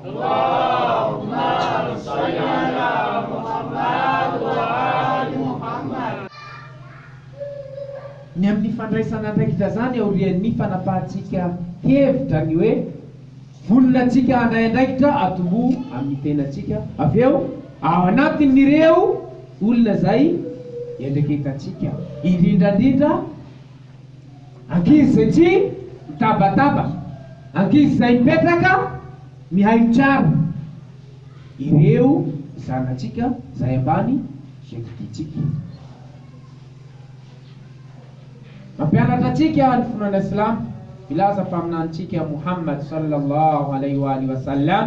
Waaww maro zay an ra Mohammad wa aly Mohammad. Ny amin'ny fandraisana andraikitra izany aorian'ny fanapahantsika hevitra ny hoe vonona antsika handray andraikitra atomboha amin'ny tenantsika avy eo ao anatin'ireo olona izay iandraiketantsika, indrindrandrindra. Ankizy izay tsy mitabataba, ankizy izay mipetraka mihaino tsara ireo zanatsika izay ambany izay didiantsika. Mampianatra antsika ny finoana silamo milaza Mpaminanintsika Mouhammad sallallahu alayhi wa alihi wa sallam.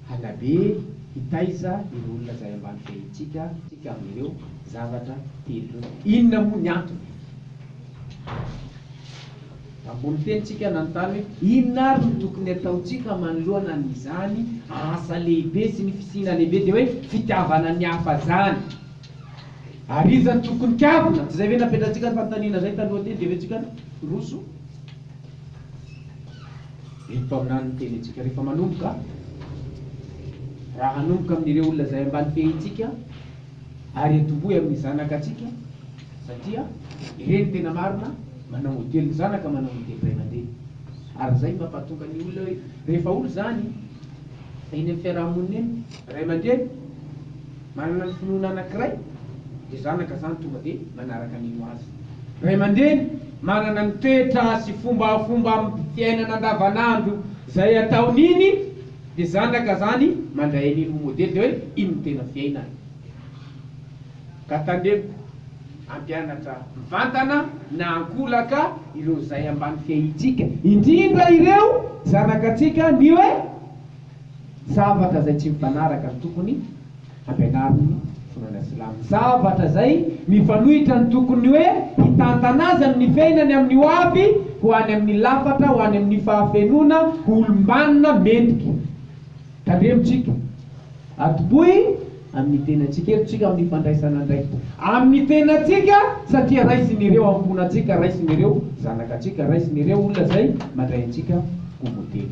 Hanabe hitaiza ireo olona izay ambany fehintsika isika amin'ireo zavatra telo ireo. Inona moa ny antony? Ambony fehintsika nanontany hoe, Inona àry no tokony hataontsika manoloana an'izany asa lehibe sy ny fisiana lehibe, dia hoe fitiavana ny hafa izany? Ary iza no tokony kavina? Tsy izay ve napetratsika ny fanontaniana izay taloha teny, dia hoe tsika no hiroso? Ry mpaminany miteny antsika rehefa manomboka, raha hanomboka amin'ireo olona izay ambany fehintsika ary atombohy amin'ny zanaka antsika satria ireny tena marina manao modely ny zanaka manao ny degré mandeha ary izay mampatonga ny olona hoe rehefa olo izany eny amin'ny fiaraha-monina eny ray aman-dreny Manana ny finoana anankiray dia zanaka zany tonga dia manaraka ny ho azy. Ray aman-dreny manana ny toetra sy fombafomba amin'ny fiainana andavanandro izay ataony iny dia zanaka zany mandray an'iny ho modely dia hoe iny no tena fiainany. Ka tandremo hampianatra mivantana na ankolaka ireo izay ambany fiahintsika indrindra ireo zanaka antsika ny hoe. zavatra izay tsy mifanaraka ny tokony hampianarin'ny finoana silamo, zavatra izay mifanohitra ny tokony hoe hitantana azy amin'ny fiainany amin'ny ho avy ho any amin'ny lafatra ho any amin'ny fahafenoana ho olom-banona mendrika. Tandremontsika, atombohy amin'ny tenantsika, herotsika amin'ny fandraisana andraikitra amin'ny tenantsika satria raisin'ireo ankohonantsika, raisin'ireo zanaka antsika, raisin'ireo olona izay mandray antsika ho modely.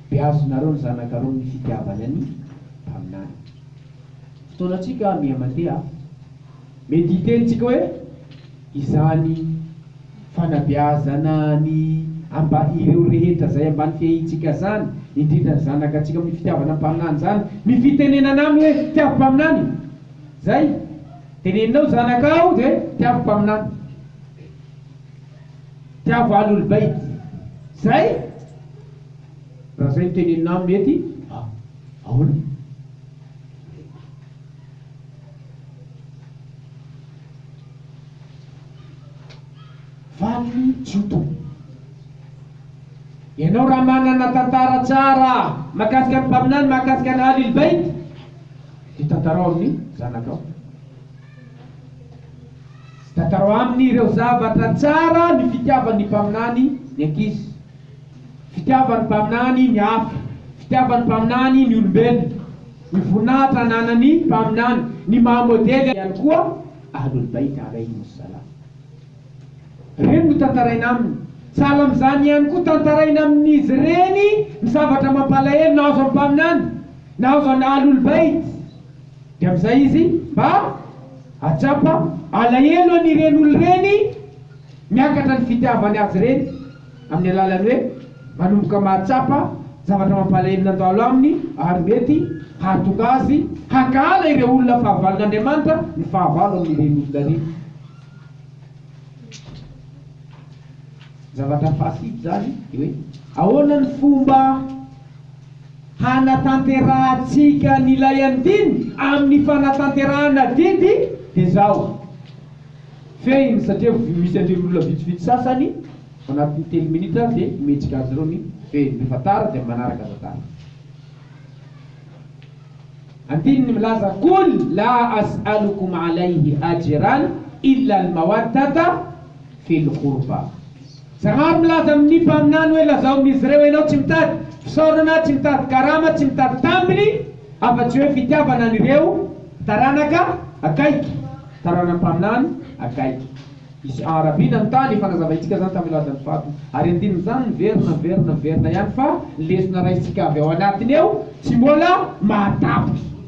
Beazinareo ny zanakareo ny fitiavany any mpaminany. Fotoanantsika miha mandeha a. Mety hiteny tsika hoe izany fanabeazana ny amba ireo rehetra zay ambany fiahiantsika zany, indrindra ny zanaka tsika amin'ny fitiavana ny mpaminany zany ny fitenenana aminy hoe tiavo mpaminany e! zay teneninao zanakao de tiavo mpaminany, tiavo ahlul bait zay! Raha zay no tenenina aminy ety a ahoana? Valiny tsy ho toy. Ianao raha manana tantara tsara mahakasika ny mpaminany mahakasika an'i Ahlil Bayt dia tantarao amin'ny zanakao. Tantarao aminy ireo zavatra tsara ny fitiavan'ny mpaminany ny ankizy. Fitiavan'ny Mpaminany ny hafa, fitiavan'ny Mpaminany ny olombelona, ny voninahitra ananan'ny Mpaminany, ny maha modely ihany koa Ahlul Bayt alaihimus salam. Ireny no tantaraina aminy. Sahala amin'izany ihany koa, tantaraina amin'izy ireny ny zavatra mampalahelo nahazo an'ny Mpaminany, nahazo an'ny Ahlul Bayt. Dia amin'izay izy mba hahatsapa alahelo an'ireny olona ireny. Miakatra ny fitiavany azy ireny amin'ny alalan'ny hoe manomboka mahatsapa zavatra mampalahelo nandalo aminy ary mety hahatonga azy hankahala ireo olona fahavalon'Andriamanitra ny fahavalo amin'ireny olona ireny. Zavatra fahasivy izany dia hoe ahoana ny fomba hanatanterahantsika an'ilay andiny amin'ny fanatanterahana adidy dia izao. Fehiny satria misy an'ireo olona vitsivitsy sasany anatin'ny telo minitra dia mihetsika azy ireo ny fehiny, rehefa tara dia manaraka aza tara. Andininy milaza Qul laa as'alukum alayhi ajran illa al-mawaddata fil-qurbah. Janary milaza amin'ny mpaminany hoe lazaomin'izy ireo ianao tsy mitady fisaorana, tsy mitady karama, tsy mitady tambiny afa-tsy hoe fitiavana an'ireo taranaka akaiky, taranan'ny mpaminany akaiky. Misy arabiana ny tany, efa nazavaintsika izany tamin'ny lazan'ny faty, ary andininy izany miverina, miverina, miverina ihany fa ny lesona raisintsika avy ao anatiny eo tsy mbola mahatapitra.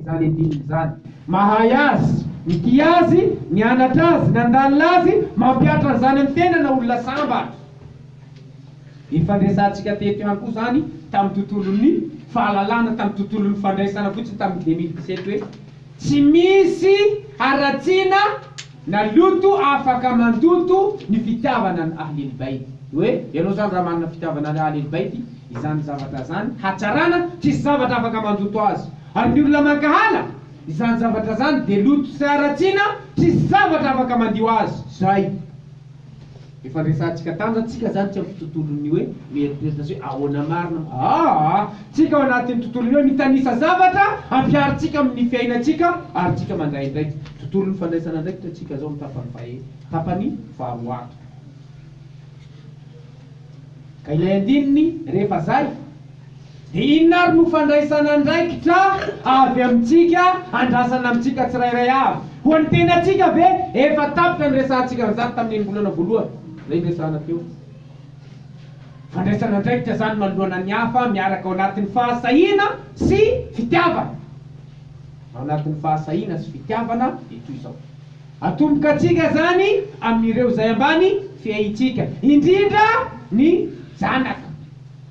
izany ediny izany. Mahay azy, mitia azy, nianatra azy, nandalina azy, mampihatra an'izany amin'ny tenana olona sambatra. Nifandresantsika teto ihany koa izany tamin'ny tontolon'ny fahalalana, tamin'ny tontolon'ny fandraisana fotsiny tamin'ny deux mille dix-sept hoe tsy misy haratsiana, Naloto afaka mandoto ny fitiavana an'i Ahlil Bayt. Hoe ianao zany raha manana fitiavana an'i Ahlil Bayt, izany zavatra zany hatsarana tsisy zavatra afaka mandoto azy. Ary ny olona mankahala izany zavatra zany dia loto sy haratsiana tsisy zavatra afaka mandio azy. Zay. Efa resahantsika tany zany, tsika zany tsy amin'ny tontolon'ny hoe mieritreritra azy hoe ahoana marina moa aa! Tsika ao anatin'ny tontolon'ny hoe mitanisa zavatra ampiharintsika amin'ny fiainantsika ary tsika mandray andraikitra. Tontolon'ny fandraisana andraikitra tsika zao amin'ny tapany fahe, tapany faharoato. Ka ilay andininy rehefa zay Dia inona ary no fandraisana andraikitra avy amintsika andrasana amintsika tsirairay avy? Ho an'ny tenantsika ve? Efa tapitra ny resahantsika an'izany tamin'iny volana voalohany izay niresahana teo. Fandraisana andraikitra izany manoloana ny hafa miaraka ao anatin'ny fahasahiana sy fitiavana. Ao anatin'ny fahasahiana sy fitiavana dia toy izao. Atomboka antsika izany amin'ireo izay ambany fiahintsika, indrindra ny zanaka.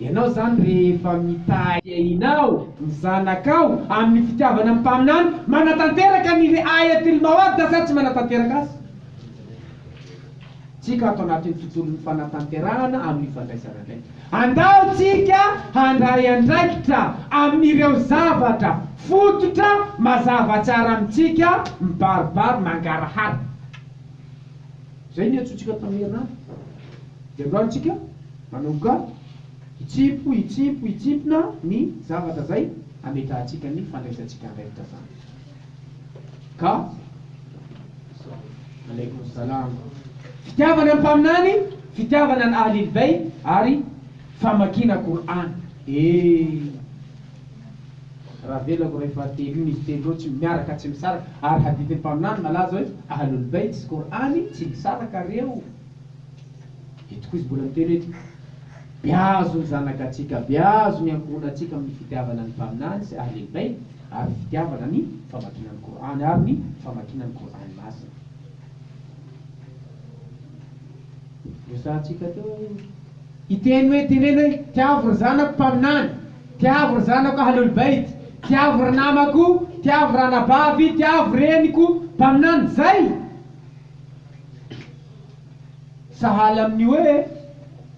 Ianao izany rehefa mitahy ahinao ny zanakao amin'ny fitiavana ny mpaminany, manatanteraka ny ri'ayatil mawaddah sa tsy manatanteraka azy? Tsika ato anatin'ny tontolon'ny fanatanterahana amin'ny fandraisana andraikitra. Andao tsika handray andraikitra amin'ireo zavatra fototra mazava tsara amintsika mibaribary mangarahara. Izay niantsoantsika tamin'ny herinandro. Ianao antsika. Manoka, Hitsimpo, hitsimpo, hitsimpona ny zavatra izay hametrahantsika ny fandraisantsika andraikitra izany. Ka. Alaikum Salam. Fitiavana ny Mpaminany, fitiavana ny Ahlil Bayt ary famakiana Qur'an. Ee. Raha avelako iray fahatelo io, izy telo ireo tsy miaraka, tsy misaraka. Ary hadithin'ny Mpaminany malaza hoe, Ahlul Bayt sy Qur'an tsy misaraka reo. Eto koa izy mbola miteny hoe, Beazo ny zanagatsika, beazo ny ankohonantsika amin'ny fitiavana ny Mpaminany sy Ahlil Bayt ary fitiavana ny famakiana ny Kor'any ary ny famakiana ny Kor'any Masina. Resahantsika teo aloha. Hiteny hoe ity reny hoe, Tiavo ry zanako Mpaminany, tiavo ry zanako Ahlul Bayt, tiavo ry namako, tiavo ry anabavy, tiavo reniko Mpaminany. Izay! Sahala amin'ny hoe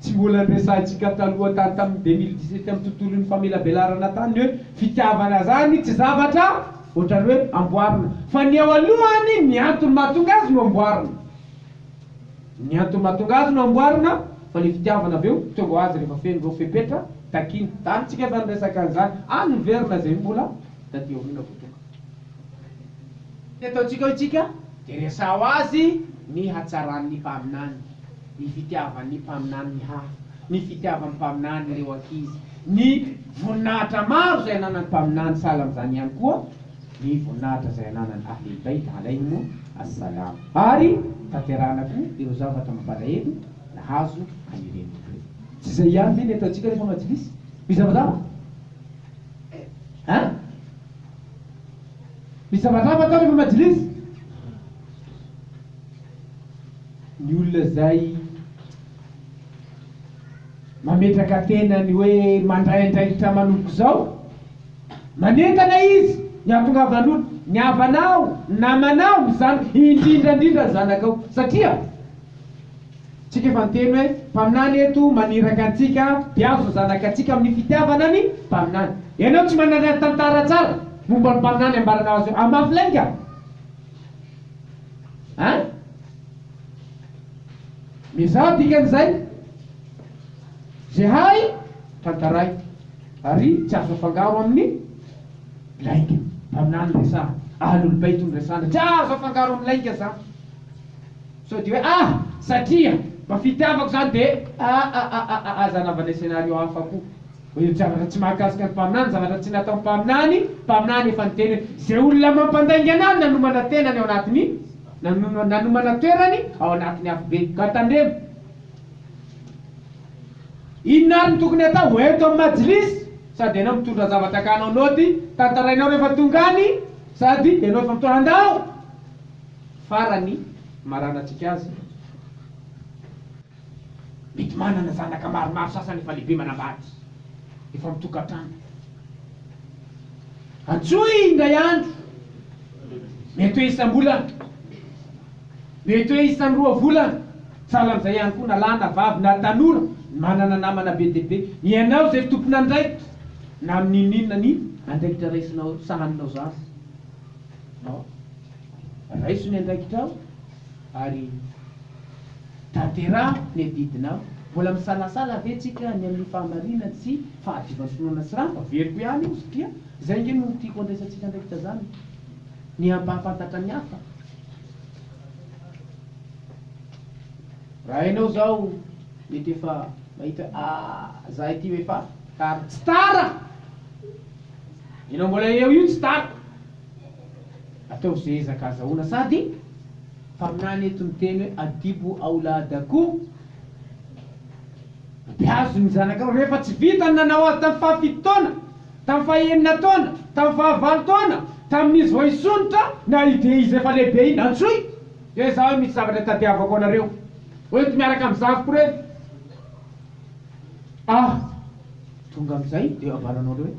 tsy mbola niresahantsika taloha tany tamin'ny deux mille dix-sept amin'ny tontolon'ny famelabelarana tany ny hoe fitiavana zany tsy zavatra ohatrany hoe amboarina fa ny eo alohany ny antony mahatonga azy no amboarina ny antony mahatonga azy no amboarina fa le fitiavana avy eo tonga ho azy rehefa feno ireo fepetra takina tany tsika efa niresaka an'izany any miverina zay mbola taty aoriana vao tonga Ny ataontsika hoy isika dia resaho azy ny hatsaran'ny mpaminany, ny fitiavan'ny mpaminany ny hafa, ny fitiavan'ny mpaminany ireo ankizy, ny voninahitra maro izay ananan'ny mpaminany, sahala amin'izany ihany koa ny voninahitra izay ananan'ny Ahlul Bayt alaihim as-salaam. Ary tanterahana koa ireo zavatra mampalahelo nahazo an'ireny olona ireny. Tsy izay ihany ve ny ataontsika rehefa majlis? Mizavazava? Hein? Ny zavatra hafa atao rehefa majlis, ny olona izay mametraka tenany hoe mandray andraikitra manomboka izao, manentana izy ny hahatongavan'olona, ny havanao, ny namanao, ny zanakao, indrindra indrindra ny zanakao satria Tsika efa niteny hoe mpaminany eto maniraka antsika mpihazo ny zanakatsika amin'ny fitiavana ny mpaminany. Ianao tsy manana tantara tsara momba ny mpaminany ambaranao azy eo amafy lainga a! Miezaha dikan'izay ze hay tantaraiko ary tsy azo afangaro amin'ny lainga. Mpaminany resaha, Ahlul Bayt no resahana, tsy azo afangaro amin'ny lainga zany. Sao dia hoe ah! satria mba fitiavako izany dia ah ah ah ah ah aza anaovanay scénario hafa koa hoe io zavatra tsy mahakasika ny mpaminany, zavatra tsy nataon'ny mpaminany, mpaminany efa niteny hoe izay olona mampandaingana ahy no nanomana tenany ao anatin'ny nanomana nanomana toerany ao anatin'ny afobe ka tandremo inona ary no tokony atao ho ento amin'ny Majlis sady ianao mitondra zavatra ka hanao naoty tantarainao rehefa tonga any sady ianao efa mitondra andao Farany, maranantsika azy, mety manana zanaka maromaro sasany efa lehibe manambady, efa mitokantrano. Antsoy indray andro, mety hoe isam-bolana, mety hoe isan'ny roa volana, sahala amin'izay ihany koa na lahy na vavy na tanora manana namana be dia be. Ianao izay tompon'andraikitra na amin'ny inon'inona ny andraikitra raisinao, sahaninao izany. Raiso ny andraikitrao ary tanteraho ny adidinao. Mbola misalasala ve tsika ny amin'ny fahamarinany sy fahadiovan'ny finoana tsy rava? Averiko ihany io satria izay ange no tiako handraisantsika andraikitra izany, ny hampahafantatra ny hafa. Raha ianao izao mety efa mahita hoe ah, za ity ho efa tara. Tsy tara! Ianao mbola eo io tsy tara. Ataovy ze ezaka azahoana sady mpaminany eto ny teny hoe adibu auladaku, Beazo ny zanakareo, rehefa tsy vita ny nanao azy tamin'ny fahafito taona, tamin'ny fahenina taona, tamin'ny fahavalo taona, tamin'izy vao hisondrotra, na i dia izy efa lehibe iny, antsoy, dia za hoe misy zavatra tadiavako anareo, ho ento miaraka amin'ny zafiko ireny, ah tonga amin'izay dia avaro anao ireo hoe.